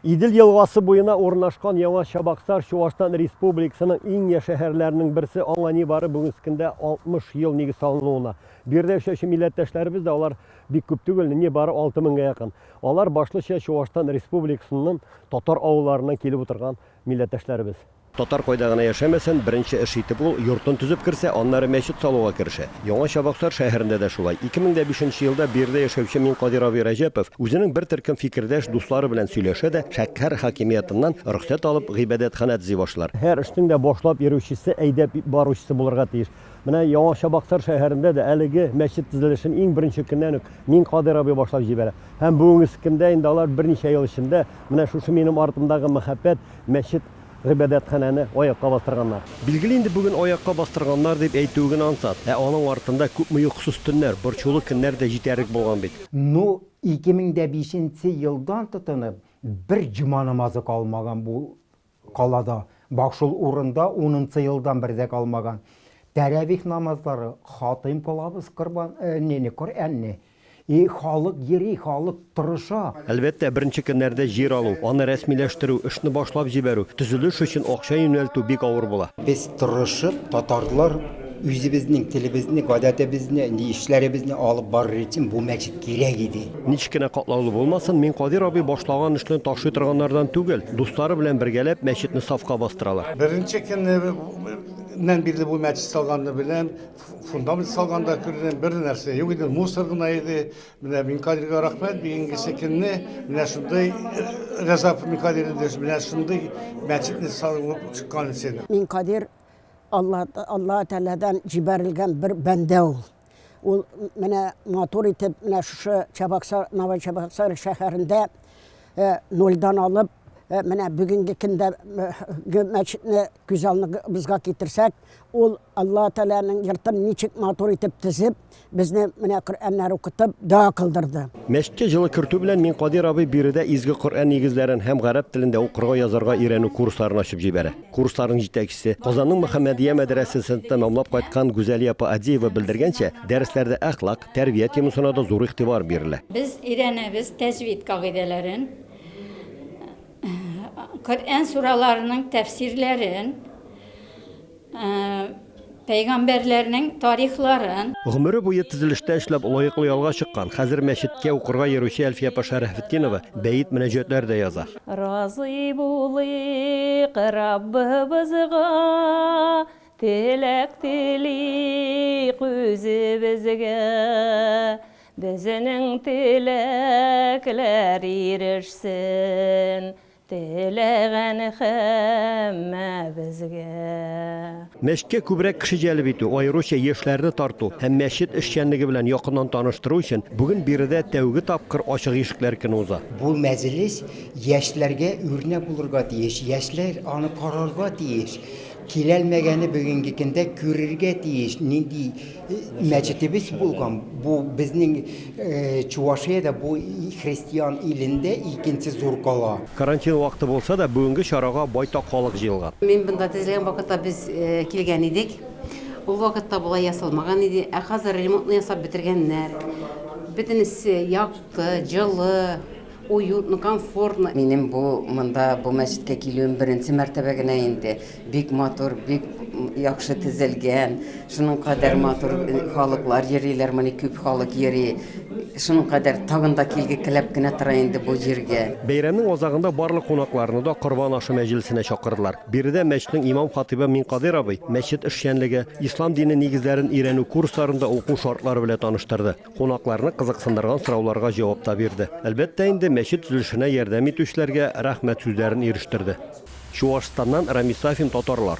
Идел елгасы буена урнашкан Яңа Чабаксар Чуашстан Республикасының иң я шәһәрләренең берсе, аңа нибары бүгенге көндә 60 ел нигез салынуына. Биредә яшәүче милләттәшләребез дә алар бик күп түгел, нибары 6000 гә якын. Алар башлыча Чуашстан Республикасының татар авылларыннан килеп утырган милләттәшләребез. Татар кайда гына яшәмәсен, беренче эш итеп ул йортын төзеп керсә, аннары мәчет салуга керешә. Яңа Чабаксар шәһәрендә дә шулай. Ике мең дә бишенче елда бу йирдә яшәүче Минкадир абый Рәҗәпов үзенең бер төркем фикердәш, дуслары белән сөйләшә дә, шәкһәр хакимиятыннан рөхсәт алып, гыйбадәтханә төзи башлар. Һәр эшнең дә башлап йөрүчесе, әйдәп баручысы булырга тиеш. Менә Яңа Чабаксар шәһәрендә дә әлеге мәчет төзелешен иң беренче көннән үк Минкадир абый башлап җибәрә. Һәм бүгенге көндә инде алар берничә ел эчендә менә шушы минем артымдагы мәһабәт мәчет Гыйбадәтханәне аякка бастырганнар. Билгеле инде бүген аякка бастырганнар дип әйтүе генә ансат. Ә аның артында күпме йокысыз төннәр, борчулы көннәр дә җитәрлек булган бит. Ну, 2005 нче елдан тотынып, бер җома намазы калмаган бу калада. Бак шул урында унынчы елдан бер дә калмаган. Тәравих намазлары, хатыйм кылабыз корбан, не, не, Коръәнне. И халык йөри, халык тырыша. Әлбәттә, беренче көннәрдә җир алу, аны рәсмиләштерү, эшне башлап җибәрү, төзелеш өчен акча юнәлтү бик авыр була. Без тырышып, татарлар үзебезнең телебезне, гадәтебезне, ни эшләребезне алып барыр өчен бу мәчет кирәк иде. Ничек кенә катлаулы булмасын, мин Кадир абый башлаган эшне ташлый торганнардан түгел. Дуслары белән бергәләп мәчетне сафка бастыралар. Беренче көннән бирле бу мәчет салганны беләм. фундамент салганда күргән бер нәрсә юк иде мусор гына иде менә минкадирга рәхмәт бүгенгесе көнне менә шундый рәзап минкадир менә шундый мәчетне салып чыккан өчен минкадир алла алла тәгаләдән җибәрелгән бер бәндә ул ул менә матур итеп менә шушы чабаксар новый чабаксар шәһәрендә нольдан алып Э, менә бүгенге көндә э, мәчетне күз алдыбызга китерсәк Ул Алла Тәгаләнең йортын ничек матур итеп төзеп, безне менә Коръәннәр укытып, дога кылдырды. Мәчеткә җылы кертү белән мин Кадир абый биредә изге Коръән нигезләрен һәм гарәп телендә укырга, язарга өйрәнү курсларын ачып җибәрә. Курсларның җитәкчесе, Казанның Мөхәммәдия мәдрәсәсен тәмамлап кайткан Гүзәлия апа Адиева белдергәнчә, дәресләрдә әхлак, тәрбия темасына да зур игътибар бирелә. Без өйрәнәбез тәҗвид кагыйдәләрен, Коръән сураларының тәфсирләрен, пәйгамбәрләрнең тарихларын. Гомере буе төзелештә эшләп, лаеклы ялга чыккан, хәзер мәчеткә укырга йөрүче Әлфия апа Шәрәфетдинова бәет-мөнәҗәтләр дә яза. Разый булыйк Раббыбызга, Теләк телик үзебезгә. Безенең теләкләр ирешсен, теләгән һәммәбезгә. Мәчеткә күбрәк кеше җәлеп итү, аеруча яшьләрне тарту һәм мәчет эшчәнлеге белән якыннан таныштыру өчен бүген биредә тәүге тапкыр Ачык ишекләр көне уза. Бу мәҗлес яшьләргә үрнәк булырга тиеш, яшьләр аны карарга тиеш, киләлмәгәне бүгенге көндә күрергә тиеш, нинди Мәчетебез булган, бу безнең Чувашиядә бу христиан илендә икенче зур кала. Карантин вакыты булса да, бүгенге чарага байтак халык җыелган. Мин монда төзелгән вакытта без килгән идек. Ул вакытта болай ясалмаган иде, ә хәзер ремонтны ясап бетергәннәр. Бөтенесе якты, җылы. Уютно, комфортно. Минем бу монда бу мәчеткә килүем беренче мәртәбә генә инде. Бик матур, бик яхшы төзелгән. Шуның кадәр матур халыклар йөриләр, мони күп халык йөри. Шуның кадәр тагын да килге келәп кенә тора инде бу җиргә. Бәйрәмнең азагында барлык кунакларны да корбан ашы мәҗлесенә чакырдылар. Биредә мәчетнең имам-хатыйбы Минкадыйр абый мәчет эшчәнлеге, ислам дине нигезләрен өйрәнү курсларында уку шартлары белән таныштырды. Кунакларны кызыксындырган сорауларга җавап та бирде. Әлбәттә инде, мәчет төзелешенә ярдәм итүчеләргә рәхмәт сүзләрен ирештерде. Чуашстаннан Рамис Сафин татарлар.